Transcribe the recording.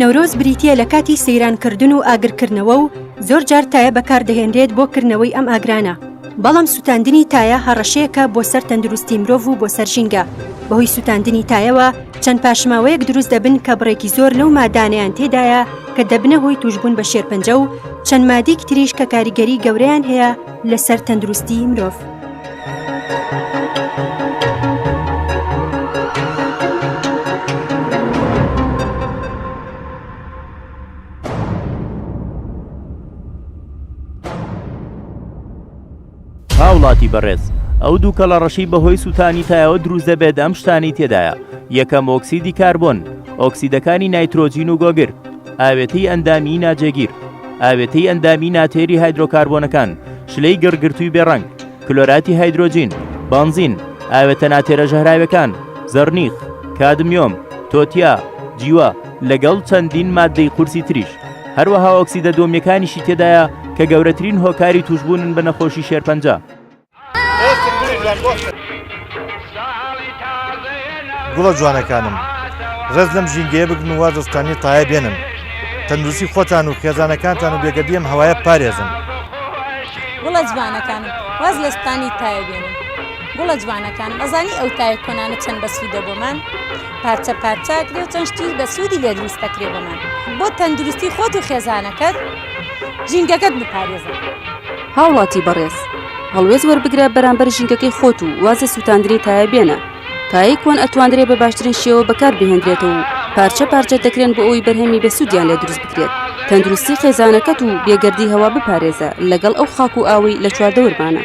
نەورۆز بریتییە لە کاتی سەیران کردن و ئاگرکردنەوە و زۆر جار تایە بەکاردەهێنرێت بۆ کردنەوەی ئەم ئاگرانە بەڵام سووتاندنی تایە هەڕەشەیەکە بۆ سەر تەندروستی مرۆڤ و بۆ سەر ژینگە بەهۆی سووتاندنی تایەوە چەند پاشماوەیەک دروست دەبن کە بڕێکی زۆر لەو مادانەیان تێدایە کە دەبنە هۆی توشبوون بە شێرپەنجە و چەند مادیک تریش کە کاریگەری گەورەیان هەیە لەسەر تەندروستی مرۆڤ. هاوڵاتی بەڕێز ئەو دوو کەڵە ڕەشەی بەهۆی سووتانی تایەوە دروست دەبێت ئەم شتانەی تێدایە، یەکەم ئۆکسیدی کاربۆن، ئۆکسیدەکانی نایترۆجین و گۆگر، ئاوێتەی ئەندامیی ناجێگیر، ئاوێتەی ئەندامیی ناتێری هایدرۆکاربۆنەکان، شلەی گڕگرتووی بێ ڕەنگ، کلۆراتی هایدرۆجین، بەنزین، ئاوێتە ناتێرە ژەهراوێکان، زەڕنیخ، کادمیۆم، تۆتیا، جیوە، لەگەڵ چەندین ماددەی قورسی تریش. هەروەها ئۆکسیدە دۆمییەکانیشی تێدایە کە گەورەترین هۆکاری تووشبوونن بە نەخۆشی شێرپەنجە. گوڵە جوانەکانم ڕێز لەم ژینگەیە بگن و وەرزستانی تایە بێنن تەندروستی خۆتان و خێزانەکانتان و بێگەردیم هەوایە پارێزن گوڵە جوانەکانم واز لە ستانی تایە بێنن گوڵە جوانەکانم ئەزانی ئەو تایە کۆنانە چەند بەسوودە بۆمان پارچە پارچاکرێ و چەند شتی بەسوودی لێ دروست دەکرێ بۆمان بۆ تەندروستی خۆت و خێزانەکەت ژینگەکەت بپارێزە. هاوڵاتی بەڕێز هەڵوێست وەربگرە بەرامبەر ژینگەکەی خۆت و واز لە سووتاندنی تایە بێنە تایەی کۆن ئەتواندرێ بە باشترین شێوە بەکار بهێندرێتەوە و پارچە پارچە دەکرێن بۆ ئەوی بەرهەمی بەسوودیان لێ دروست بکرێت تەندروستی خێزانەکەت و بێگەردی هەوا بپارێزە لەگەڵ ئەو خاک و ئاوەی لە چواردەورمانە.